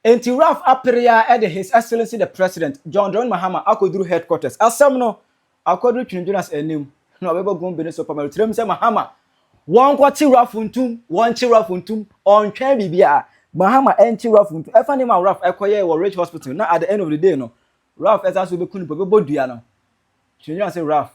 Enti Ralph apere ara de His Excellency the President, John Dramani Mahama, akɔduru headquarters. Asɛm no akɔduru Twene Jonas anim, na ɔbɛbɔ gombe no so pamaro tirim sɛ, Mahama, wɔnkɔkye Ralph ntom, wɔnkye Ralph ntom, ɔntwɛn biribiara. Mahama ankye Ralph ntom. Ɛfa nneɛma a Ralph kɔyɛe wɔ Ridge Hospital na at the end of the day no, Ralph san so bɛku no mpo, ɔbɛbɔ dua no, Twene Jonas se Ralph,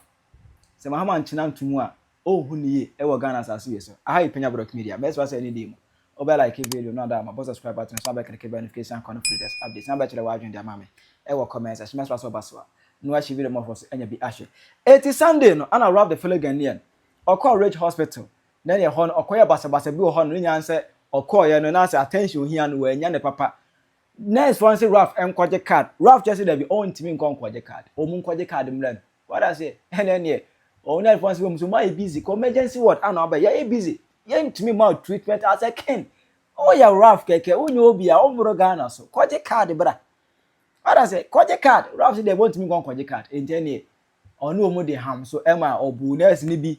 sɛ Mahama ankyena ntom a, Ohu no yie ɛwɔ Ghana asaase wei so. Aha yɛ Penya Brodc Media. Mɛsrɛ wo sɛ ɛne dii mu. Wobɛ like video no ada ama, bɔ subscribe button san bɛ click bell notification icon no for latest updates san bɛkyerɛ w'adwene de ama me ɛwɔ comment section. Mɛsrɛ sɛ woba so a na wahye video mmɔfɔɔ so anya bi ahwɛ. Enti Sunday no ɛna Ralph the Fellow Ghanaian ɔkɔɔ Ridge Hospital na ɛneɛ ɛhɔ no ɔkɔyɛɛ basabasa bi wɔ hɔ nom. Ne nyinaa ne sɛ ɔkɔɔeɛ no na sɛ attention ohia no wannya no papa. Nurse foɔ no se Ralph nkɔgye card. Ralph kyerɛ se dabi ɔntumi nkɔ nkɔgye card. Ɔmu nkɔgye card mmra no. Wate aseɛ? Ɛnɛ neɛ ɔmo nurse foɔ no se wɔ mu so moayɛ busy kɔ emergency ward ana ɔbɛ yɛyɛ busy yɛntumi mma wo treatment as a king. Woyɛ Ralph kɛkɛ wonyɛ obi a wommoro Ghana so kɔgye card bra. Wate aseɛ? Kɔgye card. Ralph se dabi ɔntumi nkɔ nkɔgye card. Enti ɛneɛ ɔne wɔn de ham so ma ɔbuu nurse no bi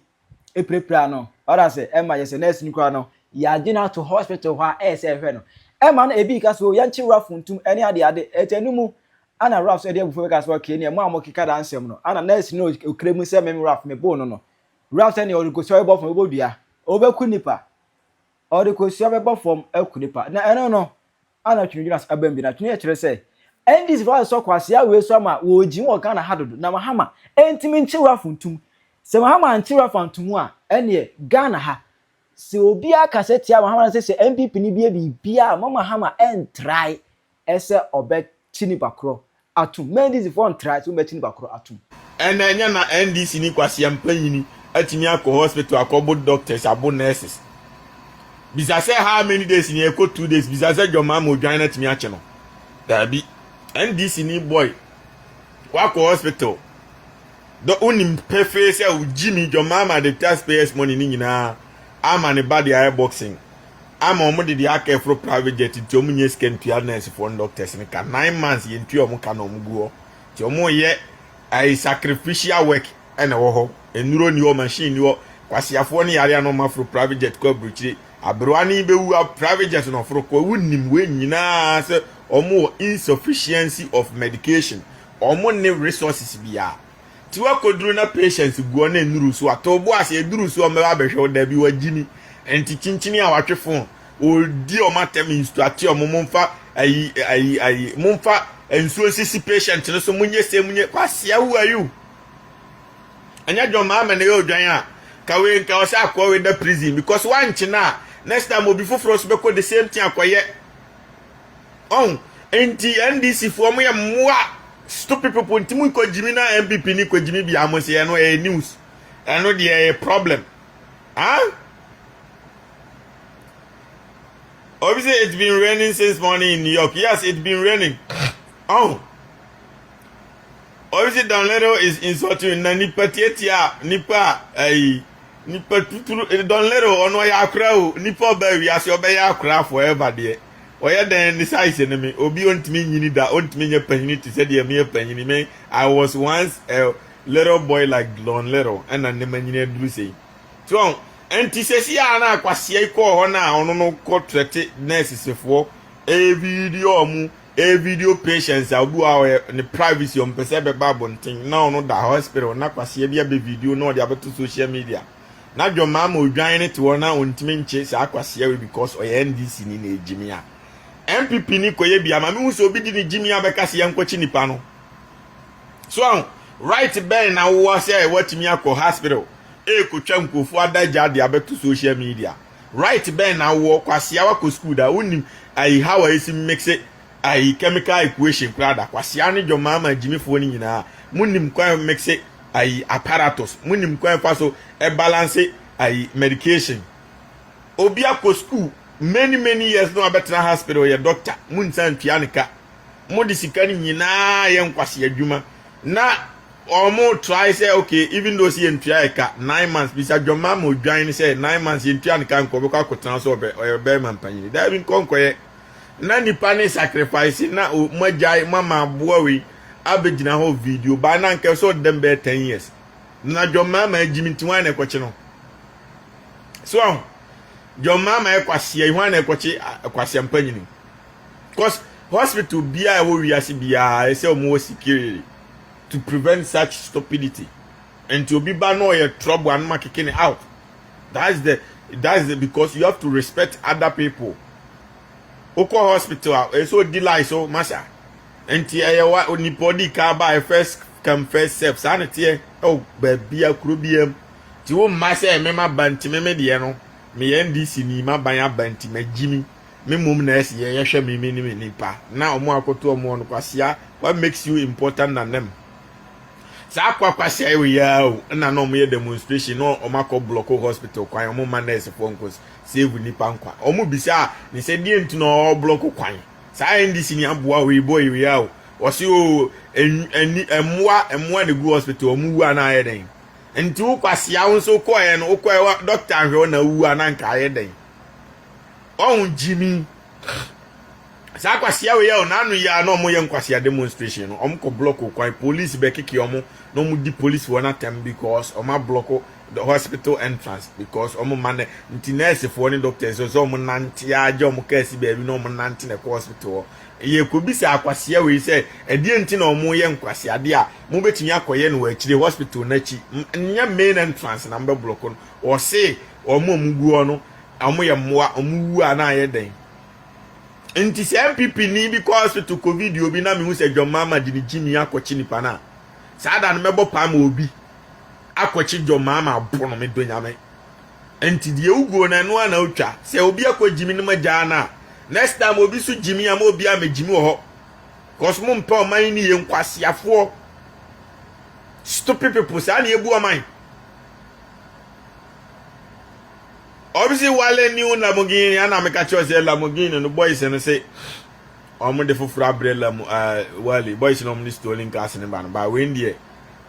pirapiraa no. Wate ase? Ɛma yɛ sɛ nurse no koraa no, yɛagye no ato hospital hɔ a ɛyɛ sɛ ɛhwɛ no. Ɛma no ebi ka sɛ, oh, yɛnkye wo afuntum ne adeade. Ɛtɔ ɛno mu a na Ralph nso de abufuo bɛka sɛ, okay, neɛ mo a mokeka daa nsɛm no, ana nurse no a ɔkura mu sɛ me Ralph meboo no no, Ralph sɛ neɛ ɔde kosua bɛbɔ fam bɛbɔ dua, ɔbɛku nnipa, ɔde kosua bɛbɔ fam aku nnipa. Na ɛno no, a na Twene gyina so abam bi na Twene kyerɛ sɛ NDC fo asɔ kwasea wei so ama wɔregye mu wɔ Ghana ha dodo na Mahama ntumi nkye wura fo ntom. Sɛ Mahama ankye wura fo anto mu a ɛneɛ Ghana ha sɛ obiara kasa tia Mahama na sɛ sɛ NPP no bie biribiara a ma Mahama ɛntrae ɛsɛ ɔbɛkye nipa korɔ atom, na NDC foɔ ntrae sɛ wɔbɛkye nipa korɔ atom. Ɛna ɛnyɛ na NDC ni Kwasi Ampanyini atumi akɔ hospital akɔbo doctors abo nurses? Bisa sɛ how many days ni ɛkɔ two days bisa sɛ John Mahama odwan no atumi akye no? Daabi. NDC ni boy wakɔ hospital dɔ wonim pefee sɛ Jimmy John Mahama de taxpayers money no nyinaa ama ne ba de ayɛ boxing. ama wɔn de deɛ aka ɛforo private jet nti wɔn nyɛ sika ntua nurse foɔ ne doctors ne ka nine months yɛn tua wɔn ka na wɔn gu hɔ nti wɔn yɛ ɛyɛ sacrificial work ɛna ɛwɔ hɔ nnuro ni hɔ machine ni hɔ kwasiafoɔ ne yareɛ na wɔn aforo private jet kɔ aburokyire aberewa ne bɛwu private jet na ɔforo kɔ ewu nim wei nyinaa sɛ wɔn wɔ insufficiency of medication wɔn ne resources biara Ti wakɔduru na Patience guɔ na ɛnuru so a, to bo ase, ɛduru so a ɔmbɛba abɛhwɛ wo, dabi wagyimi. Ɛnti kyinkyini a watwe fo ho, ɔredi ɔmo atɛm, instructe ɔmo, momfa ayi ayi ayi, momfa nsuo nsisi patient no so, monyɛ sei monyɛ, Kwasia who are you? Ɛnyɛ John Mahama na ɛyɛ odwan a, ka wei nka ɔsɛ akoa wei da prison because woankyene a, next time obi foforɔ nso bɛkɔ the same thing akɔyɛ. Ɔho nti NDC foɔ mo yɛ mmoa stupid people nti mo kɔ gyimi na NPP ni kɔ gyimi bia mo se ɛno ɛyɛ news ɛno deɛ ɛyɛ problem ah obi sɛ it's been raining since morning in New York yes it's been raining ɔho. Ɔresi dan little is insulting na nipa tiatia nipa ayi nipa tuturu don little ɔno ɔyɛ akora o nipa ɔbɛ wiase ɔbɛyɛ akora forever deɛ ɔyɛ dɛn ne size ne me obi ɔntumi nyini da ɔntumi nyɛ panyini te sɛ deɛ meyɛ panyini me I was once a little boy like don little ɛna ne ma nyini aduru sei so ɔn ɛnti sɛsi a na akwaseɛ kɔɔ hɔ na ɔno no kɔ trɛte nɛɛsesefoɔ ɛyɛ video ɔmo Ɛyɛ video patients a obi wɔ a ɔyɛ ne privacy ɔmpɛ sɛ ɛbɛba abɔnten na ɔno da hospital na kwaseɛ bi abɛ video na ɔde abɛto social media na dwɔmaa ma odwan ne te hɔ na ɔntumi nkye saa kwaseɛ wei because ɔyɛ NDC ni na ɛyɛ gyimia NPP ni kɔyɛ bi ama mehu sɛ obi di ne gyimia bɛka sɛ yɛnkɔkye nipa no so aho right bɛn na wowɔ sɛ watumi akɔ hospital ɛkɔtwa nkurɔfoɔ adagya de abɛto social media Right bɛn na wowɔ kwasea wakɔ school da wonnim ayi how a yɛsi mixe ayi chemical equation koraa da kwasea ne dwomaa ma gyimifoɔ no nyinaa monnim kwan a mixe ayi apparatus monnim kwan fa so balance ayi medication obi akɔ school many many years na wabɛtena hospital yɛ doctor monsan ntua ne ka mode sika no nyinaa yɛ nkwasea adwuma Na ɔmo try sɛ ok even though sɛ yɛn tua ɛka nine months bisa dwɔma ma odwan no sɛ nine months yɛn tua no ka nkɔ ɔbɛkɔ akɔtena so ɔbɛ ɔyɛ bɛrima mpanyin daabi nkɔ nkɔyɛ na nipa ne sacrifice na o mo agyae mo ama aboa wei abɛgyina hɔ video baa na nkɛ sɛ ɔdam bɛyɛ ten years na dwɔma ma agyimi nti hwan na ɛkɔkye no so ɔho dwɔma ma ɛkwasia yi hwan na ɛkɔkye kwasia mpanyin cos hospital biaa ɛwɔ wiase biaa ɛsɛ ɔmo wɔ security to prevent such stupidity nti obi ba na ɔyɛ trouble a no ma keke ne out that's the that's the because you have to respect other people wokɔ hospital a ɛsɛ odi life so masa nti ɛyɛ wa nipa odi ka ba first come first serve saa na teɛ ɛwɔ baabi a kuro biam ti wo mma sɛ mema ba nti meme deɛ no meyɛ ndc ni ma ban aba nti magyimi Me mmom na ɛse yɛ yɛhwɛ me me ne me nipa na ɔmo akoto ɔmo hɔ no kwasia what makes you important than them saa kwa kwasia yɛ wɔ yaa o ɛna na ɔmo yɛ demonstration na ɔmo akɔ blɔko hospital kwan ɔmo ma nurse foɔ nkɔ save nipa nkwa ɔmo bisa ne sɛ deɛ nti na ɔwɔ blɔko kwan saa ndc ni aboa wei bɔ yɛ wɔ yaa o wɔsi o ɛni ɛmoa ɛmoa na gu hospital ɔmo wu a na ayɛ dɛn nti wo kwasia wo nso kɔɛ no wokɔɛ doctor nhwɛ wo na wu a na nka ayɛ dɛn Ɔho gyimi. Saa kwasia wei yɛ ɔnaano yi a na ɔmo yɛ nkwasia demonstration no ɔmo kɔ block kwan police bɛ keke ɔmo na ɔmo di police wɔn atɛm because ɔmo ablɔko the hospital entrance because ɔmo ma nɛ nti nurse foɔ ne doctors sɛ ɔmo nante agya ɔmo kaa si baabi na ɔmo nante na ɛkɔ hospital hɔ yɛ kɔ bi sɛ akwasia wei sɛ ɛdeɛ nti na ɔmo yɛ nkwasia adeɛ a mo betumi akɔyɛ no wɔ akyire hospital n'akyi nyɛ main entrance na mo bɛ blɔko no ɔse ɔmo a ɔmo gu hɔ no Wɔn yɛ mmoa, wɔn wu a na ayɛ dɛn. Nti sɛ NPP ni bi kɔ hospital kɔ video obi na mehu sɛ John Mahama de ne gyimii akɔkye nipa no a, saa da no mɛbɔ paa ma obi akɔkye John Mahama abo no, medɔ Nyame. Nti deɛ woguo no ɛno ara na wotwa. Sɛ obi akɔ gyimi no magyaa no a, next time obi so gyimi a ma obi a mɛgyimi wɔ hɔ. Cause mo mpɛ ɔman yi ne yɛ nkwaseafoɔ. Stupid people saa na yɛbu ɔman. Wɔn se wale new Lamborghini ana meka kyerɛ sɛ Lamborghini no boys no se wɔn de foforɔ abrɛ lam uh, eh, wale boys no wɔn de stolen cars no ba no ba wei deɛ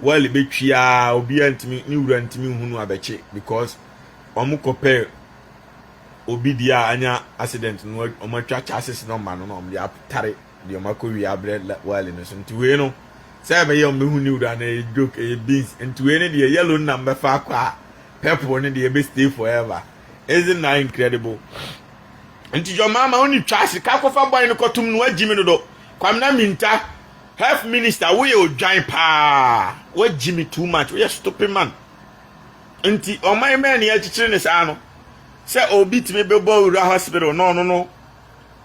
wale betwia obiara ntumi ne wura ntumi nhunu abɛkye because wɔn kɔ pɛ obi deɛ a anya accident no wɔn atwa chassis no ma no na wɔn de atare. deɛ mako wie abrɛ wali no so nti wei no sɛ ɛbɛyɛ wɔn bɛhu new da na ɛyɛ joke ɛyɛ beans nti wei no deɛ yellow no na mbɛfa akɔ a purple no deɛ ɛbɛ stay forever isn't that incredible nti jɔ maama wo ne twa sika kɔfa bɔn no kɔtom no wagyi me dodo kwamina minta health minister woyɛ odwan paa wagyi me too much woyɛ stupid man nti ɔman mɛn ne akyikyiri ne saa no sɛ obi tumi bɛbɔ wura hospital na ɔno no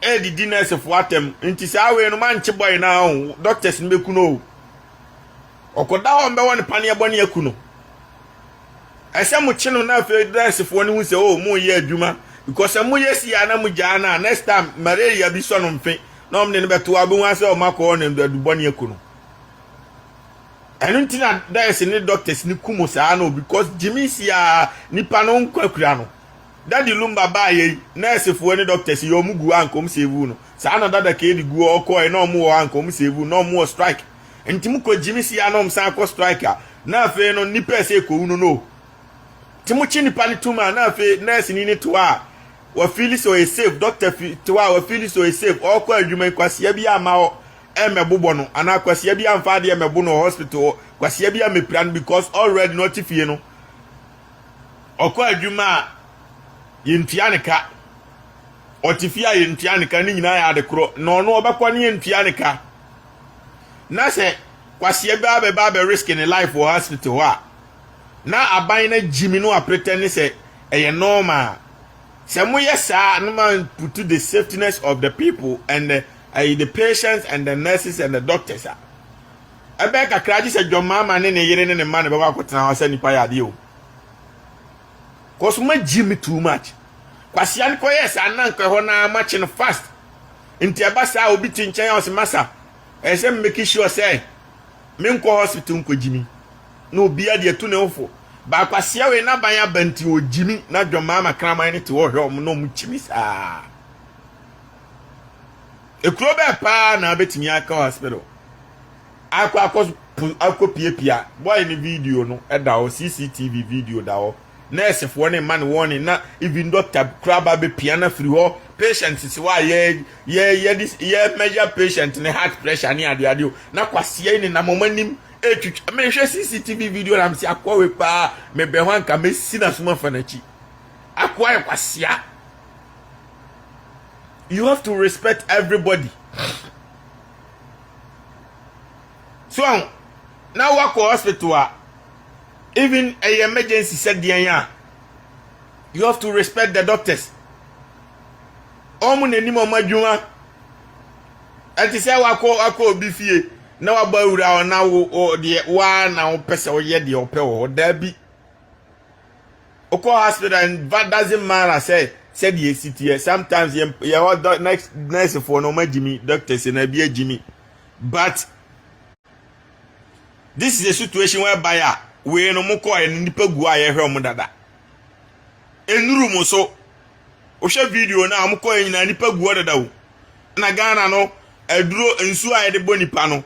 ɛredidi nɛɛsefo atɛm nti saa wei no mankye bɔe no ara o doctors no bɛku no o ɔkɔda hɔ mbɛwɔ no paneɛ bɔ ne aku no ɛsɛ mo kye no na afei nɛɛsefoɔ no hu sɛ o mo yɛ adwuma because sɛ mo yɛ si a na mo gyaa no a next time malaria bi sɔ no mfe na ɔmo de no bɛto a ɔbɛhu asɛ ɔmo akɔwɔ no adu bɔ ne aku no ɛno nti na nɛɛse ne doctors no ku mo saa no because gyimi si a nipa no nkwa kura no Daddy Lumba baeɛ yi, nurse foɔ ne doctors yɛ ɔmo gu hɔ a nka ɔmo save wo no. Saa na Dada Kaydi gu hɔ ɔkɔɔɛ na ɔmo wɔ hɔ a nka ɔmo save wo no, na ɔmo wɔ strike. Nti mo kɔ gyimi si a na ɔmo san akɔ strike a, na afei no nnipa a ɛsɛ ɛkɔwu no no. Nti mo kye nnipa no tum a na afei nurse ni no te hɔ a wa feeli sɛ ɔyɛ save, doctor fi te hɔ a wa feeli sɛ ɔyɛ save, ɔɔkɔ adwuma yi kwasea bi amma hɔ ɛmmɛbobɔ no anaa kwasea bi amfa adeɛ mmɛbo no wɔ hospital hɔ, kwasea bi ammɛpira no because already na ɔte fie no. Ɔkɔ adwuma a, yɛntua no ka. Ɔte fie a, yɛntua no ka. Ne nyinaa yɛ ade korɔ. Na ɔno ɔbɛkɔ no yɛntua no ka. Na sɛ kwaseɛ bɛa bɛba abɛriske ne life wɔ hospital hɔ a, na aban no agyimi no apretɛne sɛ ɛyɛ normal. Sɛ moyɛ saa a, na moamputu the safetiness of the people and the, ayi, the patients and the nurses and the doctors a. Ɛbɛyɛ kakra gye sɛ John Mahama ne ne yere ne ne mma na ɛbɛkɔ akɔtena hɔ sɛ nnipa yɛ adeɛ o. Cause ma gye me too much. Kwasia no kɔyɛ saa na nkɔ ɛhɔ na makye no fast. Nti ɛba saa obi te nkyɛn a ɔsɛ masa. Ɛyɛ sɛ mmeki sure sɛ menkɔ hospital nkɔ gyimi. Na obi adi atu ne ho fo. Ba kwasia wei n'aban aba nti ɔgyimi na John Mahama kraman no te hɔ hwɛ ɔmo na ɔmo kyimi saa. Ekuro bɛɛ paa na abɛtumi akɔ hospital akɔ akɔ akɔ piapia boy ne video no ɛda hɔ CCTV video da hɔ nɛɛsefoɔ ne mma ne wɔn ne na even doctor kura ba bɛ pia na firi hɔ patient sisi hɔ a yɛ yɛ yɛ yɛ measure patient ne heart pressure ne adeɛ adeɛ o na kwaseɛ ne nam wɔn anim etwitwa eh, mehwɛ CCTV video na msi akɔ wei paa mebɛn hɔ anka mesi na suma fa n'akyi akɔ ayɛ kwaseɛ. you have to respect everybody so ahụ na wakɔ hospital a even a emergency sɛ deɛn a you have to respect the doctors wɔn n'anim wɔn adwuma ɛte sɛ wakɔ wakɔ obi fie na wabɔ awura hɔ na wo deɛ waa na wopɛ sɛ woyɛ deɛ wopɛ wɔ hɔ daabi Wokɔ hospital and ba doesn't matter sɛ sɛdeɛ esi teɛ sometimes yɛ yɛ hɔ dɔ next nurse foɔ no wɔn agyimi doctors na ebi agyimi but this is a situation whereby a wei no mo kɔɛ no nipa gu a yɛhwɛ wɔn dada enuru mo so wohwɛ video no a wɔn kɔɛ nyinaa nipa gu hɔ dada o na ghana no aduro nsuo a yɛde bɔ nipa no.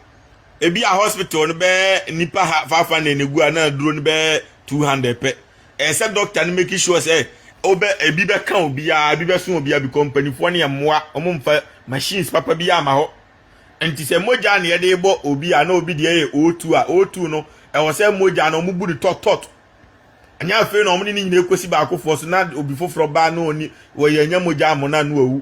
ebi a hospital no bɛyɛ nnipa ha five hundred na egu a na aduro no bɛyɛ two hundred pɛ ɛsɛ doctor no make sure sɛ ɔbɛ ebi bɛka obiara ebi bɛso obiara bi kɔ mpanimfoɔ no yɛ mmoa wɔn mfa machines papa bi ama hɔ nti sɛ mogya na yɛde bɔ obi a na obi deɛ yɛ o2 a o2 no ɛwɔ sɛ mogya no wɔn bu no tɔtɔt ɛnyɛ afei na wɔn ne ne nyinaa ekosi baakofoɔ so na obi foforɔ baa na ɔni wɔyɛ anya mogya amɔ na ano awu.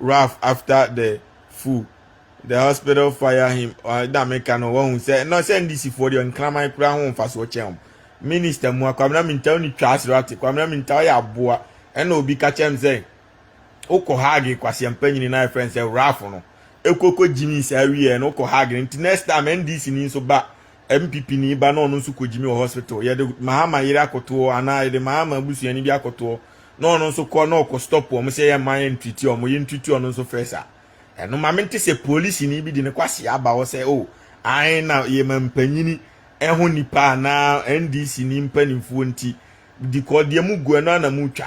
rough after the fool the hospital fire him ɛna meka no wɔhu sɛ na sɛ ndc foɔ deɛ nkraman koraa ho mfasoɔ kyɛn wɔn minista mu a kwamina minta ne twa asere ate kwamina minta ɔyɛ aboa ɛna obi ka kyɛm sɛ wokɔ haage kwaseɛ mpanyini na ɛfrɛ sɛ rough no ekoko gyimi saa wieɛ no wokɔ haage nti next time ndc ni nso ba MPP ni ba na ɔno nso kɔgyimi wɔ hospital, yɛde Mahama yere akɔtoɔ anaa yɛde Mahama abusuani bi akɔtoɔ na ɔno nso kɔ na ɔkɔ stop wɔn sɛ yɛmma yɛn ntriti wɔn, yɛn ntriti ɔno nso first a. Ɛno ma mente sɛ polisini bi de ne kwasea aba hɔ sɛ o, ae na yɛma mpanyini ɛho nipa anaa NDC ni mpanimfoɔ nti di kɔ deɛ mu gu ɛno ana mu twa.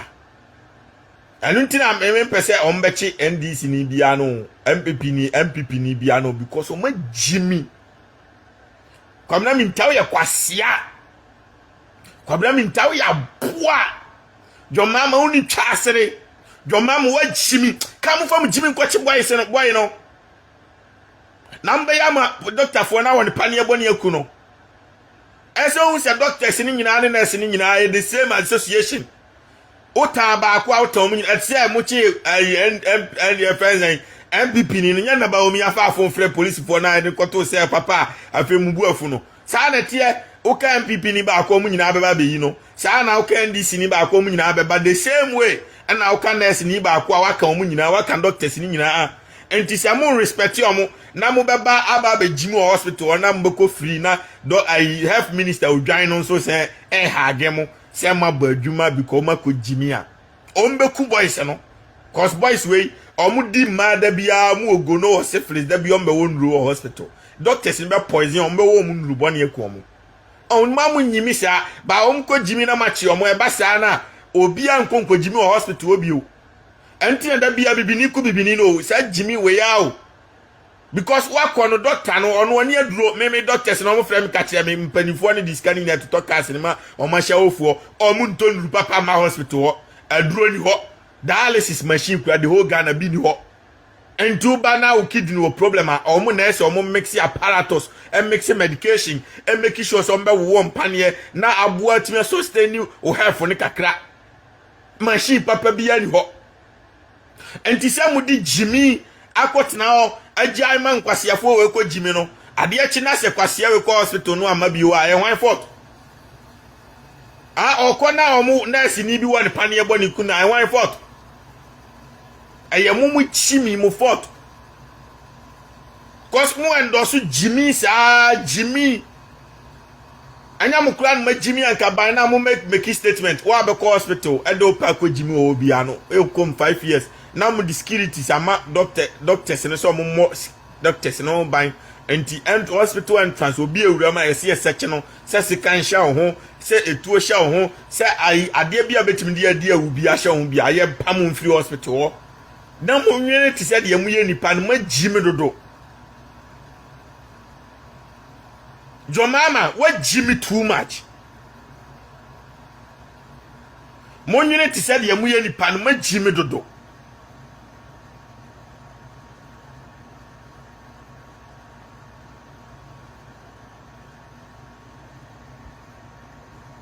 Ɛno nti na mempɛ sɛ wɔn bɛkye NDC ni bia no, MPP ni, MPP ni bia no because wɔn agyimi. Kwabena Mintao yɛ kwasea. Kwabena Mintao yɛ aboa. John Mama woni twa asere. John Mama wa Jimmy. Ka mo fa mo Jimmy nkɔkye boy se no boy no. Na mbɛyɛ ama doctor foɔ na wɔn paneɛ bɔ ne aku no. Ɛsɛ ohun sɛ doctors ne nyinaa ne nurse ne nyinaa yɛ the same association. Wotaa baako a wotaa wɔn nyinaa. Ɛte sɛ mokyee ɛyi ɛyi ɛfɛ nsɛn NPP ni no nyɛ na Baomi afa afon frɛ polisifoɔ na ɛde kɔtoo sɛ papa a afei mu bu afu no. Saa na ɛteɛ. Woka NPP ni baako wɔn nyinaa bɛba abɛyi no. Saa na woka NDC ni baako wɔn nyinaa bɛba the same way ɛna woka nurse ni baako a waka wɔn nyinaa waka doctors ni nyinaa. Nti sɛ mo respect wɔn na mo bɛba aba abɛgyi mu wɔ hospital hɔ na mo bɛkɔ free na dɔ ayi health minister odwan no nso sɛ ɛɛha adwene mo. Sɛ mabɔ adwuma bi kɔ ɔmo akɔ gyi me a ɔmo bɛ ku boys no cos boys wei ɔmo di mmaa da biara ɔmo wɔ gono wɔ syphilis da biara ɔmo bɛ wɔ nnuru wɔ hospital doctors no bɛ poison ɔmo bɛ wɔ ɔmo nnuru bɔne aku ɔmo ɔmo ma ɔmo nyi me saa ba ɔmo kɔ gyi me na makye ɔmo ɛba saa na obiara nkɔ nkɔ gyi me wɔ hospital hɔ bio ɛnti na da biara bibini ku bibini no o saa gyi me wei a o because wakɔ no dɔkta no ɔno ɔne aduro me me doctors na wɔfrɛ me ka kyerɛ me mpanimfoɔ no de sika no nyinaa totɔ cars no ma wɔn ahyɛ wofoɔ wɔn ntɔ nnuru papa ma hospital hɔ aduro ni hɔ dialysis machine kura the whole Ghana bi ni hɔ nti woba na wo kidney wɔ problem a wɔn nurse wɔn mix apparatus mix medication make sure sɛ wɔn bɛwo wɔn mpaneɛ na aboa tumi sustain wo health no kakra machine papa bi ani hɔ Enti sɛ mode gyimi akɔtena hɔ agyae ma nkwaseafoɔ wei kɔ gyimi no, adeɛ kye na sɛ kwasea wei kɔ hospital no amma bio a, ɛyɛ hwan fault? Ah, ɔkɔ na wɔn nɛɛseni bi wɔ ne paneɛ bɔ ne kun a, ɛyɛ hwan fault? Ɛyɛ mo mo gyimi mo fault. Cause mo ɛndɔso gyimi saa gyimi. Anya mo kura no ma gyimi anka ban na mo make make statement wa bɛ kɔ hospital ɛdɛ opɛ akɔ gyimi ɔwɔ bi ano ɛkɔ mu five years na mo de securities ama doctor doctors no sɛ ɔmo mmɔ doctors no ho ban nti and hospital entrance obi awura mu a yɛsi yɛ sɛkye no sɛ sekan hyɛ wo ho sɛ etuo hyɛ wo ho sɛ ayi adeɛ bi a betumi de adi awu bi ahyɛ wo ho bi a yɛ mpa mo mfiri hospital hɔ na mo nwene te sɛ deɛ mo yɛ nipa no ma gyimi dodo. John Mahama woagye me too much. Monwene te sɛ deɛ moyɛ nipa no magye me dodo.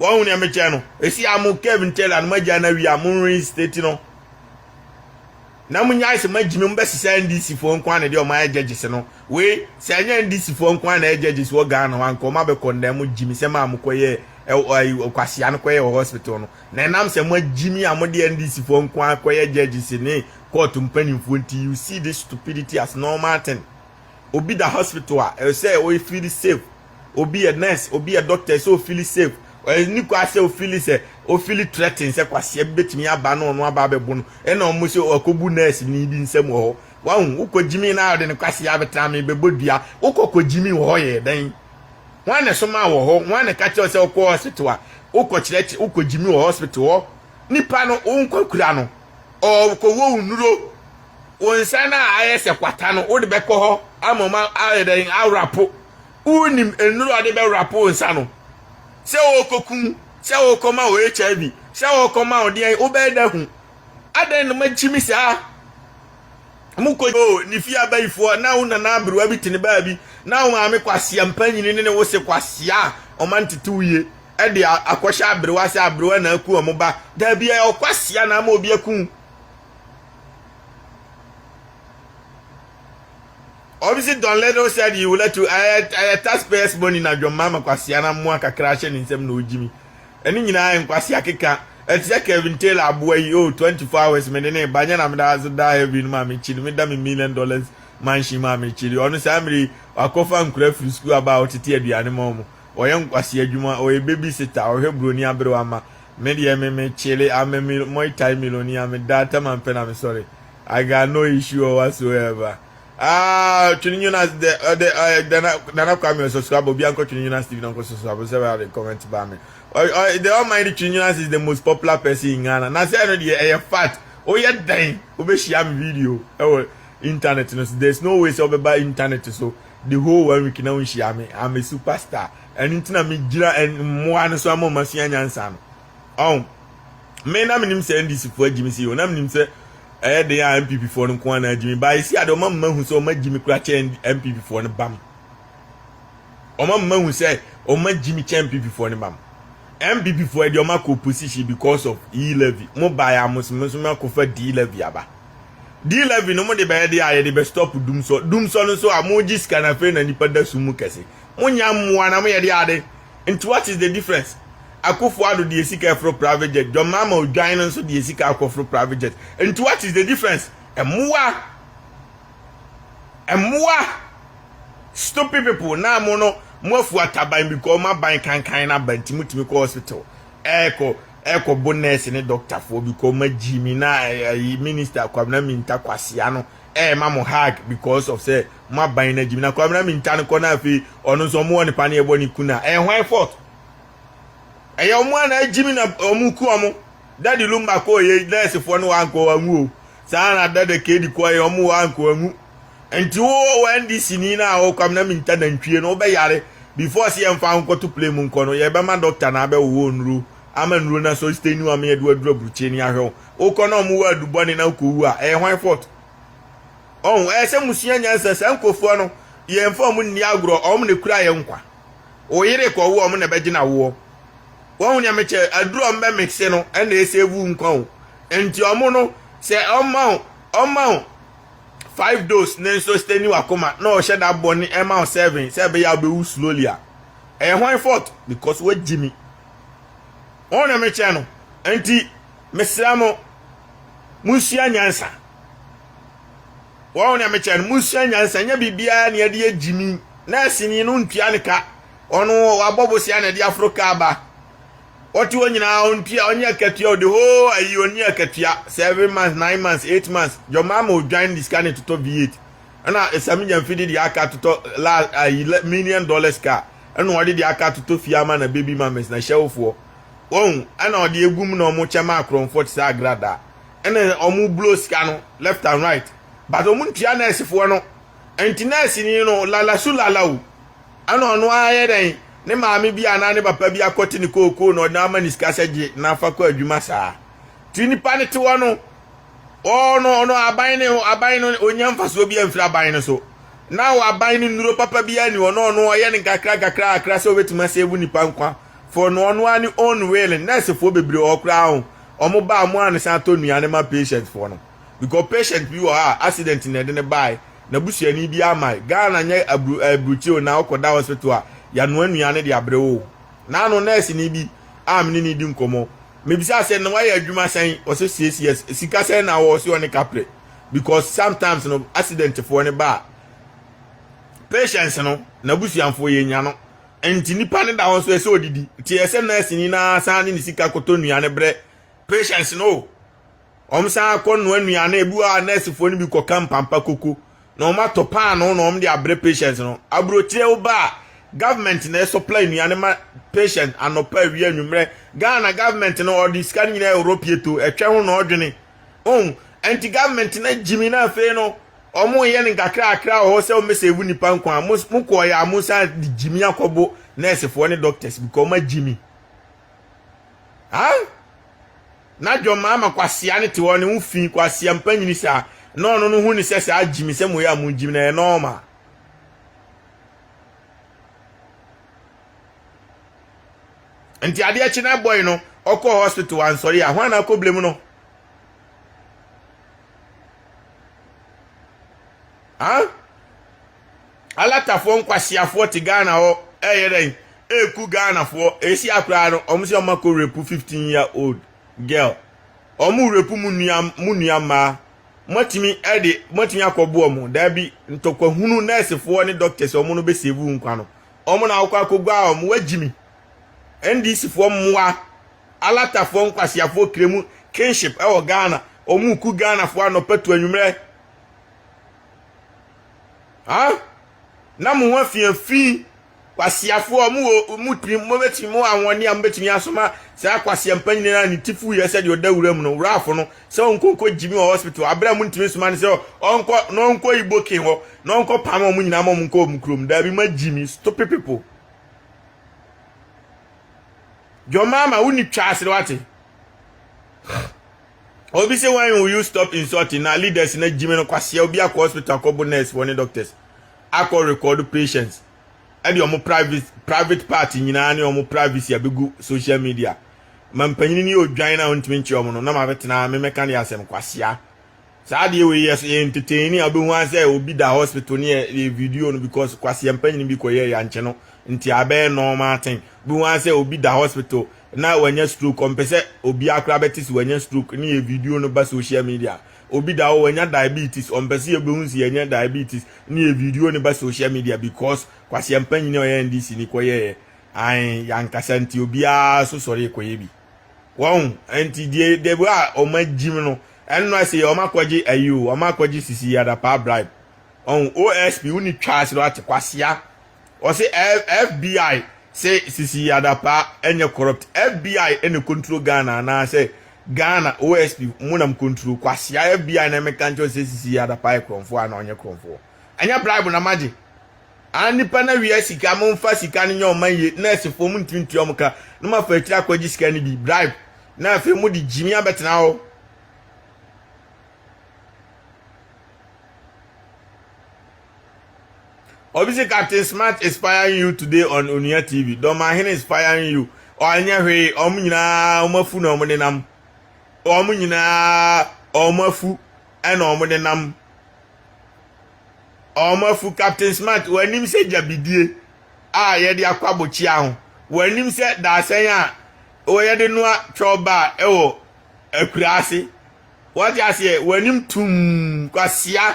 Wɔn nea mekyɛ no esi a mo Kev Ntela no magya na wia mo reinstate no na mo nyae sɛ magyimi mo bɛsesa NDC foɔ nko ara na deɛ ɔmo ayɛ judges no wei sɛ ɛnyɛ NDC foɔ nko ara na ɛyɛ judges wɔ Ghana hɔ anka ɔmo abɛkɔ ndɛn mo gyimi sɛ maa mo kɔyɛ ɛwɔ kwasia no kɔyɛ wɔ hospital no na ɛnam sɛ mo agyimi a mo deɛ NDC foɔ nko ara kɔyɛ judges ne court mpanimfoɔ nti you see this stupidity as normal thing. obi da hospital a ɛwɔ sɛ ɔyɛ feel safe obi yɛ nurse obi yɛ doctor ɛsɛ o feel safe ɛni kɔ asɛ o feel sɛ o feel threaten sɛ kwasia bi betumi aba na ɔno aba abɛbo no ɛna wɔn sɛ ɔkɔbu nurse ni bi nsam wɔ hɔ wɔn wokɔ gyimi na ɔde ne kwasia abɛtena mi bɛbɔ dua wokɔ kɔ gyimi wɔ hɔ yɛ dɛn wɔn na soma wɔ hɔ wɔn na kakyɛ sɛ ɔkɔ hospital a wokɔ kyerɛkyerɛ wokɔ gyimi wɔ hospital hɔ nipa no wɔn kɔ kura no. ɔrekɔwɔ wo nnuro wo nsa no a ayɛ sɛ kwata no wode bɛkɔ hɔ ama ɔma ayɛ dɛn awrapo wonim nnuro a ɔde bɛwrapo wo nsa no sɛ wɔrekɔku sɛ wɔrekɔma wɔ hiv sɛ wɔrekɔma wo deɛn wobɛyɛ da hu adɛn na magyimi saa mokɔ oh, ne fie abayifoɔ na wo nana aberewa bi te ne baa bi na wo maame kwasea mpanyini ne ne wo se kwasea ɔma ntete wo yie de akɔhyɛ aberewa sɛ aberewa na aku wɔn ba. Daabi, ɛyɛ ɔkwasea na ama obi aku. Obviously, Don Little said he would let you ɛyɛ taxpayers money na dwom mama kwasea na mmoa kakra ahyɛ ne nsam na ogyimi. Ɛne nyinaa yɛ nkwasea keka. Ɛte sɛ Kevin Taylor aboa yi, oh 24 hours mede ne ba nyɛ na meda ase da heaven no maame kyiri meda me million dollars mansion maame kyiri ɔno saa mmere yi wakɔfa nkura firi sukuu aba a ɔtete aduane ma wɔn. Ɔyɛ nkwasi adwuma, ɔyɛ baby sitter, ɔhwɛ broni aberewa ma me deɛ me me kyele I'm a mil moi thai millionaire me da tam a mpɛ na me sɔre I got no issue or whatsoever aah twene Jonas dɛ ɔdɛ ɔyɛ Nana Nana Kwame ɔsɔsɔ aba obi ankɔ twene Jonas Steve na ɔnkɔ sɔsɔ aba sɛ bɛ ade comment ba me ɔy ɔy the almighty twene Jonas is the most popular person in Ghana na sɛ ɛno deɛ ɛyɛ fact woyɛ dɛn wobɛhyia me video ɛwɔ internet no so there's no way sɛ wobɛba internet so the whole one week na wonhyia me I'm a superstar ɛno nti na megyina mmoa no so ama ɔma sua nyansa no ɔn me na menim sɛ ndc foɔ agyimi si o na menim sɛ ɛyɛ den a mpp foɔ no nko ara na agyimi baa ɛsi ade ɔma mma hu sɛ ɔma gyimi kora kyɛ mpp foɔ no bam ɔma mma hu sɛ ɔma gyimi kyɛ mpp foɔ no bam mpp foɔ ɛde ɔma kɔ opposition because of e levy mo baa yɛ amosomoso ma kɔfa d levy aba Dlevy no mo de bɛyɛ de a yɛde bɛ stop dumsɔ dumsɔ no nso a mo gye sika na afei na nipa da sum mu kɛse mo nya mmoa na mo yɛ de ade nti what is the difference Akufo Addo deɛ sika ɛforo private jet John Mahama Odwan no nso deɛ sika akɔ foro private jet nti what is the difference mmoa mmoa stupid people na mo no mo afu ataban because mo aban kankan na ba nti mo tumi kɔ hospital ɛɛkɔ ɛkɔ bo nurse ne doctor foɔ because ma gyi mi na ayi minister kwabena minta kwasia no ɛɛma mo hug because of sɛ mo aban na gyi mi na kwabena minta no kɔ na afei ɔno nso ɔmo wɔ ne paneɛ ɛbɔ ne ku na ɛyɛ hwan fault ɛyɛ ɔmo a na agyi mi na ɔmo ku ɔmo dadi lumba kɔɔ yɛ nurse foɔ no wankɔ anwu o Saa na dada kedi kɔ yi ɔmo wa nko anwu nti wo wɔ NDC ni na wo kwam na minta nantwie no wo bɛ yare before se yɛ nfa wo nkɔ to plane mu nkɔ no yɛ bɛ ma doctor na abɛ wo wo nuro ama nuro na so stain wo ama yɛ de wo aduru aburukyie ni ahwɛ wo wo kɔ na ɔmo wa adu bɔ ne na wo kɔ wu a ɛyɛ hwan fault ɔho ɛyɛ sɛ mo sua nyansa saa nkofoɔ no yɛ nfa ɔmo nni agorɔ ɔmo na kura yɛ nkwa. wo yere kɔ wo ɔmo na ɛbɛgyina woɔ wahu nea mekyɛ aduru ɔmo bɛ mixe no ɛna ɛsɛ vu nkwa o nti ɔmo no sɛ ɔma wo ɔma wo five dose ne nso stay ni wakoma na ɔhyɛ da bɔ ne ɛma wo seven sɛ ɛbɛyɛ a wobɛwu slowly a ɛyɛ hwan fault because wagyi mi wɔn na mekyɛ no nti mesra mo monsua nyansa Wɔn nea mekyɛ no, musua nyansa. Ɛnyɛ biribiara na yɛde yɛ gyimi. Nɛɛseni no ntua ne ka. Ɔno wabɔ bosea na ɛde aforo ka aba. Ɔte hɔ nyinaa ontua, ɔnyɛ akatua, ɔde hoo ayi ɔnyɛ akatua. Seven months, nine months, eight months. Jɔmaama odwan de sika no totɔ V8. Ɛna Samigya mfidi de aka totɔ la ayi million dollars car. Ɛna ɔde de aka totɔ fie ama na baby mames na hyɛwofoɔ. Wɔn ɛna ɔde egum na wɔn kyɛ ma akorɔmfoɔ te sɛ agradaa. ɛna wɔn blow sika no left and right but wɔn ntua nɛɛsefoɔ no nti nɛɛseni no lalasu lalawu ɛna ɔno ayɛ dɛn ne maame bi anaa ne papa bi akɔte ne kookoo na ɔde ama ne sika sɛ gye na afa kɔ adwuma saa ti nipa no te hɔ no ɔno ɔno aban ne aban no onya mfasoɔ bi amfiri aban no so na aban no nnuro papa bi ani hɔ na ɔno ɔyɛ ne kakra kakra kakra sɛ obetumi asɛbu nipa nkwa for no ɔno ani own will nɛɛsefoɔ bebree wɔ hɔ koraa ho wɔn ba a wɔn a ne san tɔ nnuane ma patient foɔ no because patient bi wɔ hɔ a accident na ɛde ne baae na busuani bi amae Ghana nyɛ aburu ɛɛ burukyiri o na ɔkɔ da hospital a yanoa nnuane de abre wo na ano nurse ni bi a mene ne di nkɔmɔ mebisa sɛ na wayɛ adwuma sɛn ɔsɛ six years sika sɛn na wɔ ɔsɛ ɔne kapre because sometimes no accident foɔ ne ba a patients no na busuanfoɔ yɛ nya no. Enti nipa no da hɔ nso ɛsɛ odidi. Nti ɛyɛ sɛ nɛɛseni no ara san de ne sika kɔtɔ nnuane brɛ patients no o, wɔsan kɔ noa nnuane, ebi wɔ hɔ a nɛɛsefoɔ no bi kɔka mpampa koko na wɔatɔ paanoo na wɔde abrɛ patients no. Aburokyire woba a, government na ɛsupply nnuane ma patients anɔpa, awia, anwummerɛ. Ghana government no ɔde sika no nyinaa yɛ ɔrɔpieto, ɛtwɛ ho na ɔdwene. Ohu? Ɛnti government no gyimi na afei no, ɔmo yɛ no nkakrakra wɔ hɔ sɛ ɔmo bɛ sɛ ebu nipa nkwa. Mo, mo kɔɔ yɛ a mo san de gyimi akɔbo nurse foɔ ne doctors because ɔmo agyimi. Ha? Na John Mahama kwasea ne te hɔ ne ho fi kwasea mpanyini saa. Na ɔno no hu ne sɛ saa gyimi sɛ mo yɛ a mo gyimi na yɛ normal. nti adeɛ kye na boy no ɔkɔɔ hospital ansɔre a hwan na akɔ blame no ah alatafoɔ nkwasiafoɔ te ghana hɔ ɛyɛ dɛn ɛku ghanafoɔ ɛsi akoraa no ɔmo sɛ ɔmo akɔ rape 15 year old girl ɔmo rape mu nua mu nua mmaa moatumi ɛde moatumi akɔboɔ mo daabi ntɔkwahunu nɛɛsefoɔ ne doctors ɔmo no bɛsɛvu nkwa no Wɔn na wɔkɔ akɔguaa wɔn. Wɔagyi me. NDC foɔ mmoa. Alata foɔ nkwaseafoɔ kremu kinship ɛwɔ Ghana. Wɔn reku Ghana foɔ anɔpa to anwummerɛ. Ha? Na mo ho afiafi. Kwaseafoɔ wɔn wɔ wɔn tirim mo bɛtumi mo ahoɔden a mo bɛtumi asoma saa kwaseampa nyinaa ne tifu yɛ sɛdeɛ ɔda wura mu no wurafo no sɛ ɔnkɔ nkɔ gyimi wɔ hospital abere a muntumi nsoma no sɛ ɔnkɔ na ɔnkɔ ibokin hɔ na ɔnkɔ pam ɔmo nyinaa ma ɔmo nkɔ ɔmo kurom daabi ma gyimi stupid people John Mahama wonni twa ase wate obi sɛ when will you stop insulting na leaders na gyimi no kwaseɛ obi akɔ hospital akɔbo nurse wɔ ne doctors akɔ record patients de wɔn private private part nyinaa ne wɔn privacy abegu social media ma mpanyin no yɛ odwan na ɔntumi nkyerɛ wɔn no na mabɛtena memɛka ne asɛm kwasea saa adeɛ wei yɛ so yɛ entertain a wobɛhu asɛ obi da hospital ne yɛ video no because kwasea mpanyin bi kɔ yɛ yankye no nti abɛyɛ normal thing wobɛhu asɛ obi da hospital na wanya stroke ɔmpɛ sɛ obi akora bɛte sɛ wanya stroke ne yɛ video no ba social media Obi da hɔ wanya diabetes ɔmpɛ sɛ yɛbɛhu sɛ yɛanya diabetes ne yɛ video no ba social media because Kwasi Mpanyin a ɔyɛ NDC ni kɔyɛɛ ae yankasa nti obiara so sɔre kɔyɛ bi wɔn nti deɛ deɛ bi a wɔn agyim no ɛno ɛsɛ yɛ wɔn akɔgye ayi o wɔn akɔgye sisi yɛ adapaa bribe wɔn OSP wo ni twa ase no ate kwasia Ɔse FBI se sisi Adapaa ɛnyɛ corrupt FBI na control Ghana anaa sɛ Ghana OSP mo na mo control kwasea FBI na ɛmeka nkyerɛ wo sɛ sisi Adapaa yɛ korɔnfoɔ anaa ɔnyɛ korɔnfoɔ ɛnyɛ bribe na magye a nnipa na wia sika mo nfa sika no nyɛ ɔman yie nurse foɔ mo ntumi ntua ɔmo ka na mo afa akyiri akɔgye sika no bi bribe na afei mo de gyimi abɛtena hɔ Obi si Captain Smart is spying you today on Onua TV. Dɔmahene is spying you. Ɔnyɛ hwee, wɔn nyinaa wɔn afu na wɔn nenam. Wɔn nyinaa wɔn afu na wɔn nenam. Wɔn afu Captain Smart, wɔanim sɛ gyabidie a yɛde akɔ abokyia ho. Wɔanim sɛ daasɛn a wɔyɛde noa twɛw baa wɔ akura ase. Wate aseɛ w'anim tum kwasia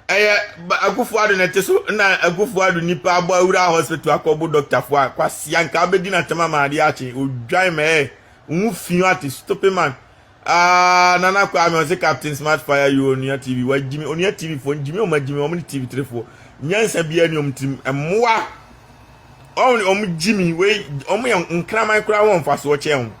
ɛyɛ Akufo Ado na ɛte so na Akufo Ado nipa abɔ awura hospital akɔbo dɔktafo a kwasia nka abɛdi n'atɛm ama adeɛ akye odwan mɛɛ wo fi ate stupid man Ah, Nana Kwame ɔse Captain Smart Fire you Onua TV wa gyimi Onua TV foɔ gyimi ɔma gyimi ɔmo ne TV three foɔ nyansa biara ni ɔmo tirim ɛmoa ɔmo ɔmo gyimi wei ɔmo yɛ nkraman koraa wɔn mfasoɔ kyɛn ho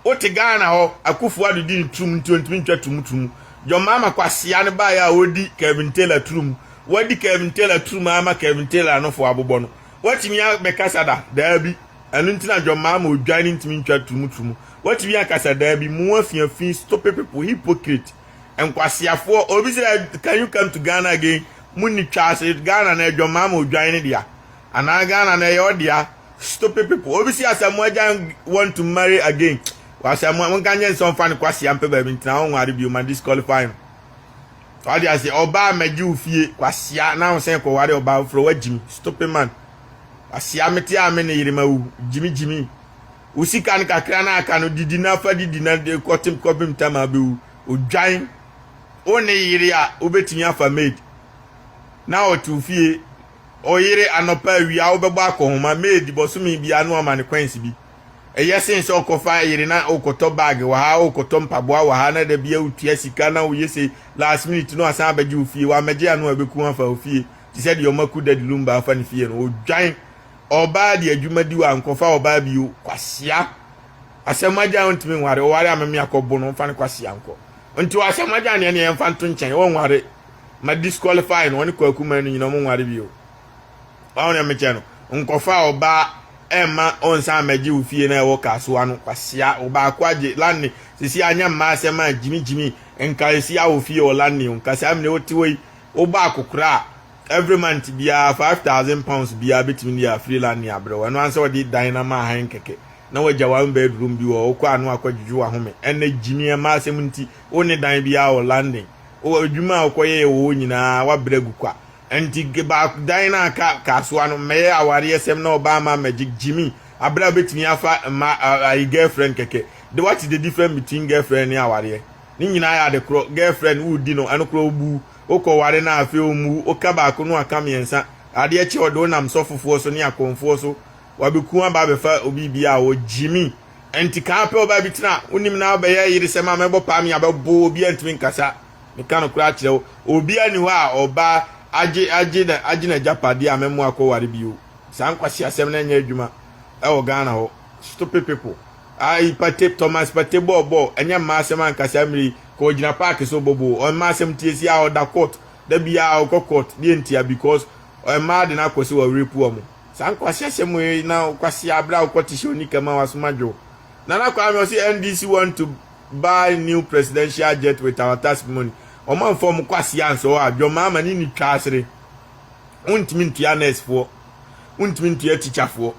Wote Ghana hɔ, Akufo Addo dii no turumu nti ontumi ntwa to mu turumu. John Mahama kwasea no baeɛ a ɔredi Kelvin Taylor turumu. Wadi Kelvin Taylor turumu ara ma Kelvin Taylor anofo abobɔ no. Watumi abɛkasa da? Daabi. Ɛno nti na John Mahama odwan no ntumi ntwa turumu turumu. Watumi akasa? Daabi. Mo afiafi, stupid people, hypocrite, nkwaseafoɔ. Obi sɛ can you come to Ghana again? Munni twa ase. Ghana no ɛyɛ John Mahama odwan no dea. Anaa Ghana no ɛyɛ ɔdea. Stupid people. Obi si asɛm mo agya want to marry again. Wasɛm mo nka nyɛ nsɛ ɔmfa ne kwasia mpɛ baabi ntena ho nware bio ma disqualify no. Wadi ase ɔbaa mɛgye wo fie kwasia na ahosan kɔ ware ɔbaa foforɔ wagyim stupid man. Kwasia mete a me ne yere ma wu gyimi gyimi. Wo sika no kakra na aka no didi na fa didi na kɔte kɔbem tam a bɛwu odwan. Wo ne yere a wobɛtumi afa maid na ɔte wo fie. Ɔyere, anɔpa, awia, wobɛbɔ akɔnhoma, maid, bɔsome biara na wama no coins bi. Ɛyɛ sen sɛ ɔkɔfa yere na wokɔtɔ bag wɔ ha, wokɔtɔ mpaboa wɔ ha na da biara wotua sika na woyɛ sei, last minute na wasan abɛgye wo fie, wammɛgye ano a ɛbɛku wo afa wo fie te sɛ deɛ wɔaku Daddy Lumba afa ne fie no. Odwan ɔbaa de adwuma di wankɔfa ɔbaa bio. Kwasea! Asamoah-Gyan wontumi nware, ɔware a meme akɔbo no, mfa no kwasea nkɔ. Nti Asamoah-Gyan deɛ ne yɛmfa nto nkyɛn, ɔnware. ma disqualify no ɔne kwaku man no nyina ɔmo nware bio wawo na mekyɛ no nkɔfa ɔbaa ɛma ɔnsan mɛgye wo fie na ɛwɔ kasoa no kwasia ɔbaako agye lane sisi anya mmaa asɛm a gyimi gyimi nka esi awo fie wɔ lane nka saa mene wote wɔ yi wobɔ akokora a every month biara five thousand pounds biara betumi de afiri lane abrɛ wɔn ɛno ansa wɔde dan na ma ahan kɛkɛ na wɔagya wɔn bedroom bi wɔ wokɔ ano akɔdwedwe wahome ɛnɛ gyimi mmaa asɛm nti wo ne dan biara wɔ lane wɔ adwuma a wokɔyɛɛ wɔ hɔ nyinaa, woabrɛ agu kwa. Ɛnti baako, dan no a ka, kasoa no, mmɛyɛ awareɛsɛm na ɔbaa mma mmɛgye gyimi aberɛ a wobɛtumi afa mma, ayi girlfriend kɛkɛ. De what is the difference between girlfriend ne awareɛ? Ne nyinaa yɛ ade korɔ. Girlfriend woredi no, ɛno koraa wobu. Wokɔ ware no a afei wɔmmu wo. Woka baako no aka mmiɛnsa. Adeɛ kye a ɔde wo nam sɔfofoɔ so ne akɔmfoɔ so, wabɛku wo aba abɛfa obi biaa wɔ gyimi. Ɛnti kaa pɛ ɔbaa bi tena a wonim no a wobɛyɛ ayeresɛm a mɛbɔ paa me abɛbo wo obiara ntumi nkasa meka nokorɛ akyerɛ wo obiara nni hɔ a ɔbaa agye agye na agye n'agyapadeɛ a mɛmmoa akɔware bio saa nkwaseasɛm no nyɛ adwuma ɛwɔ Ghana hɔ stupid people ayi pate Thomas pate bɔɔ bɔɔ ɛnyɛ mmaa asɛm ankasa mmere yi ka ɔgyina paake so bobo ɔmmaa asɛm tie si a ɔda court da biara ɔkɔ court deɛ ntia because ɔmmaa de no akɔ sɛ wɔrepu wɔn Saa nkwaseasɛm mo yi na wo kwasea abrɛ a wokɔ te hyɛ onika ma wasom adwo. Nana Kwame ɔse NDC want to buy new presidential jet with our task money. Ɔmo amfa ɔmo kwasea ansɔ hɔ a John Mahama ne ne twa asere. Wontumi ntua nurse foɔ. Wontumi ntua teacher foɔ.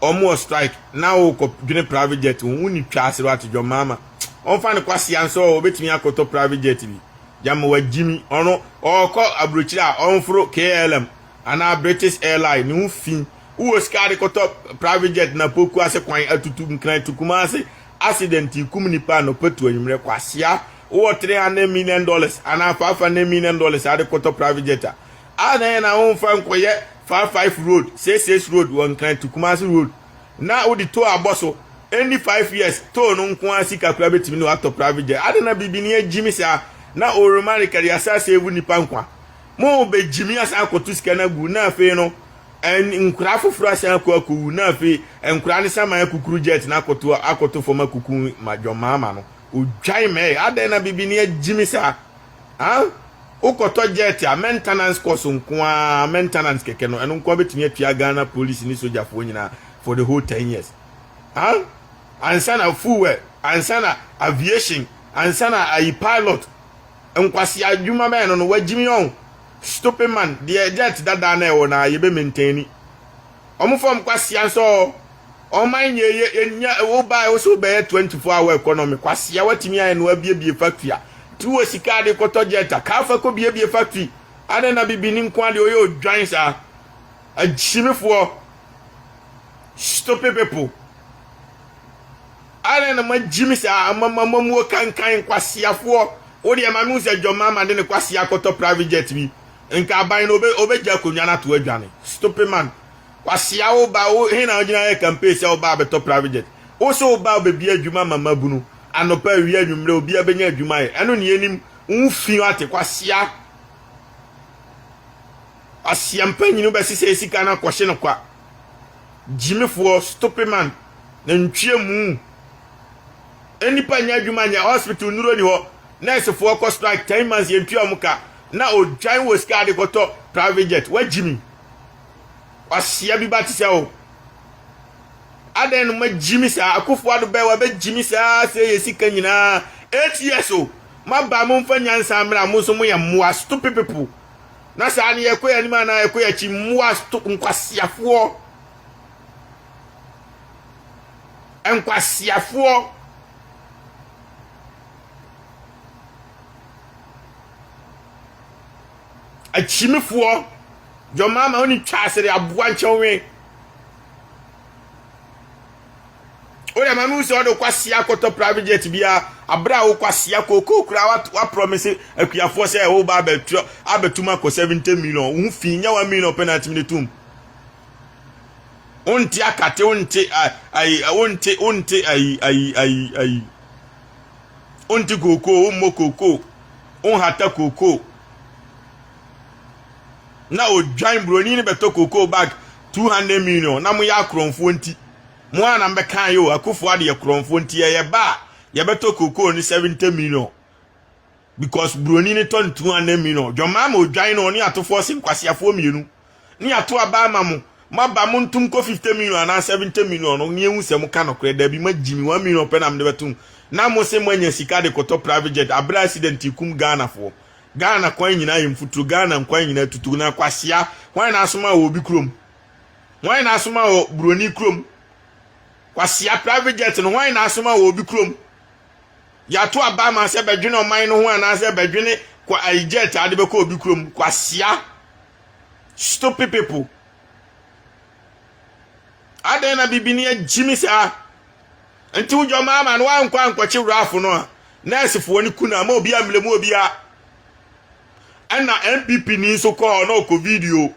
Ɔmo wɔ strike na wokɔ dwene private jet ho. Wo ne twa asere wate John Mahama. Ɔmfa ne kwasea nsɔ hɔ obetumi akɔtɔ private jet bi. Gyama wagyimi. Ɔno ɔkɔ abrokyire a ɔmforo KLM Anaa British airline ne ho fi. Wowɔ sika de kɔtɔ private jet na poku ase kwan atutu nkran to Kumasi accident yi kum nipa anɔpa tu anwummerɛ kwasea. Wowɔ 300 million dollars anaa 500 million dollars a de kɔtɔ private jet a, adɛn na na womfa nkɔyɛ five five road, six six road wɔ nkran to Kumasi road na wode tow abɔ so ɛnni five years tow no nko ara sika koraa bɛtumi ne watɔ private jet. Adɛn na bibini agyimi saa na ɔrema rekadi asa save nipa nkwa. Mobegyimi asan akɔto sika no agu na afei no nkwadaa afoforɔ asan akɔ akɔwu na afei nkwadaa no san ma akukuru jet no akɔto akɔto fam akuku ma John Mahama no ɔdwan mɛɛ adɛn na bibini agyimi saa ah wokɔtɔ jet a maintenance cost nko ara maintenance kɛkɛ no ɛno nko ara bɛtumi atua Ghana police ne sogyafoɔ nyinaa for the whole ten years ah ansa na fuel ansa na aviation ansa na ayi pilot Nkwasea adwuma bɛn no no wagyimi ɔn stupid man deɛ dirt dadaa na ɛwɔ na yɛbɛ maintain ni ɔmo fam kwasea nso ɔɔ ɔman nyɛ yɛ yɛnya wo baɛ wo sɛ wo bɛyɛ 24 hour economy kwasea watumi ayɛ no abiebie factory a nti wo wɔ sika a de kɔtɔ jet a kaa fa kɔ biebie factory adɛn na bibini nko adeɛ ɔyɛ odwan saa agyimifoɔ stupid people. Adɛn na moagyimi saa ama mo amammuo kankan kwaseafoɔ wo deɛ mame hu sɛ John Mahama de ne kwasea akɔtɔ private jet bi nka aban no ɔbɛgya akonnwa no ato adwane stupid man kwasea wo ba wo he na wogyina ayɛ campaign sɛ wo ba abɛtɔ private jet wo se wo ba bɛbie adwuma ma mabunu anɔpa awia anwummerɛ obia bɛnya adwuma ayɛ ɛno ne yɛnim wo ho fi ate kwasea kwasea mpanyini wobɛsesɛ sika no akɔhye no kwa gyimifoɔ, stope man, nantwie mu, nnipa nyɛ adwuma nyɛ, hospital nnuro ni hɔ, nɛɛsefoɔ kɔ strike ten months yɛntua wɔn ka, na odwan wɔ sika ade kɔtɔ private jet, wagyimi, wahyia bi ba te sɛ o. Adɛn no magyimi saa, Akufo Addo bɛɛ wabɛgyimi saa sɛ yɛ sika nyinaa, eight years o, moaba a momfa nyansa mmra, mo nso moyɛ mmoa, stupid people. na saa ne yɛkɔ yɛn anim anaa yɛkɔ yɛn akyi mmoa nkwaseafoɔ nkwaseafoɔ akyimifoɔ dwɔmaama wo ne twa asɛre aboa nkyɛnwe wode ma mehu sɛ ɔde kwasea akɔtɔ private jet bia aberɛ a wo kwasea kookoo koraa waprɔmise akuafoɔ sɛ woba abɛtrɔ abɛtum akɔ 70 million wo ho fi nyɛ 1 million pɛ na atumi de tom wonte akate wonte ayi wonte wonte ayi ayi ayi ayi wonte kookoo wommɔ kookoo wonhata kookoo na odwan buroni no bɛtɔ cocoa bag two hundred million na moyɛ akorɔmfoɔ nti mo a na mbɛka yɛ o akufo ade yɛ korɔmfoɔ nti yɛyɛ ba a yɛbɛtɔ cocoa no seventy million because buroni no tɔ no two hundred million dwɔmaa ma odwan no ɔne atofoɔ se nkwaseafoɔ mmienu. ne yɛato aba ama mo ma ba mo ntom kɔ 50 million anaa 70 million no ne yɛhu sɛ mo ka nokorɛ daabi ma gyi me 1 million pɛ na mede bɛto mu na mo se moanya sika de kɔtɔ private jet aberɛ a accident kum Ghana foɔ Ghana kwan nyinaa yɛ mfuturo Ghana nkwan nyinaa tutu na kwasea hwan na asoma wɔ obi kurom hwan na asoma wɔ buroni kurom kwasea private jet no hwan na asoma wɔ obi kurom yɛato aba ama sɛ bɛdwene ɔman no ho anaasɛ bɛdwene kwa ayi jet ade bɛkɔ obi kurom kwasea Stupid people. Adɛn na bibini agyimi saa? Nti wo dwɔma ama no wankɔ ankɔkye rafo no a nɛɛsefoɔ no ku no ama obi ammerɛ mu obia. Ɛna NPP ni nso kɔ hɔ na ɔkɔ video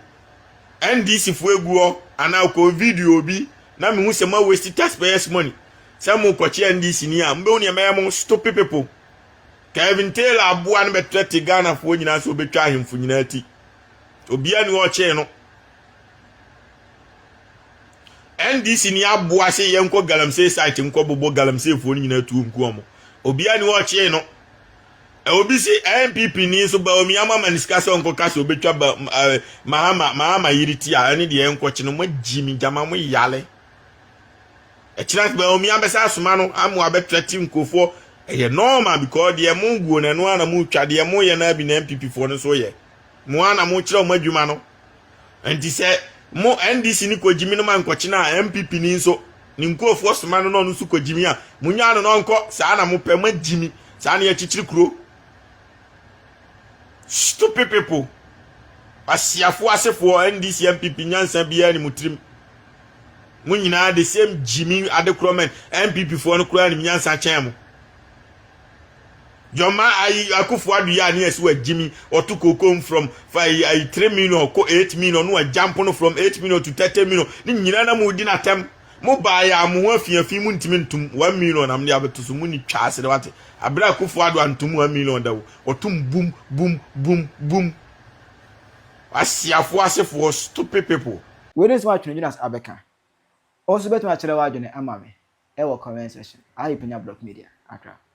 NDC foɔ egu hɔ anaa ɔkɔ video bi na mehu sɛ ma waste taxpayers money sɛ mo kɔkye NDC ni a mbɛhu nea mɛyɛ mo stupid people. Kevin Taylor aboa no bɛtrɛte Ghanafoɔ nyinaa sɛ ɔbɛtwa ahemfo nyinaa ti. Obia ni ɔkyee no. NDC ni aboa se yɛnkɔ galamsey site nkɔ bobɔ galamseyfoɔ no nyinaa tuo nku ɔmo. Obia ni ɔkyee no. Obi se NPP ni nso Baomi ama ma ne sika sɛ ɔnkɔ ka sɛ ɔbɛtwa ba, uh, Mahama, Mahama yere ti a ɛne deɛ ɛnkɔkye no. Mo agyi me gyama mo yale. Ɛkyena ase bɛn omi abɛsa asoma no ama wabɛtra ti nkurofoɔ ɛyɛ normal because deɛ mo guo no ɛno ara na mo twa deɛ mo yɛ no ara bi na NPP foɔ no nso yɛ mo ara na mo kyerɛ wɔn adwuma no nti sɛ mo NDC ni kɔ gyimi no ma nkɔkyena a NPP ni nso ne nkurofoɔ soma no na ɔno nso kɔ gyimi a mo nyaa no na ɔnkɔ saa na mo pɛ mo agyimi saa na yɛkyekyere kuro stupid people asiafoɔ asefoɔ NDC NPP nyansa biara ni mo tirim. Mo nyinaa the same gyimi adekorɔ mɛn NPP foɔ no koraa nim nyansa kyɛn mo. Jɔma ayi akufo ado yɛ a ne yɛsi wa gyimi ɔto kokom from fa ayi ayi three million kɔ eight million no wa jump no from eight million to thirty million ne nyinaa na mo di na tɛm mo baa yɛ a mo ho afiafi mo ntumi ntum one million na mo de abɛto so mo ni twa ase de wate abere akufo ado antum one million da wo ɔtum bum bum bum bum asiafo asefoɔ stupid people. Wei ne nsɛm a Twenedwinase abɛka. Wo nso wobɛtumi akyerɛ w'adwene ama me wɔ comment section. Ayekunyablogmedia, Accra.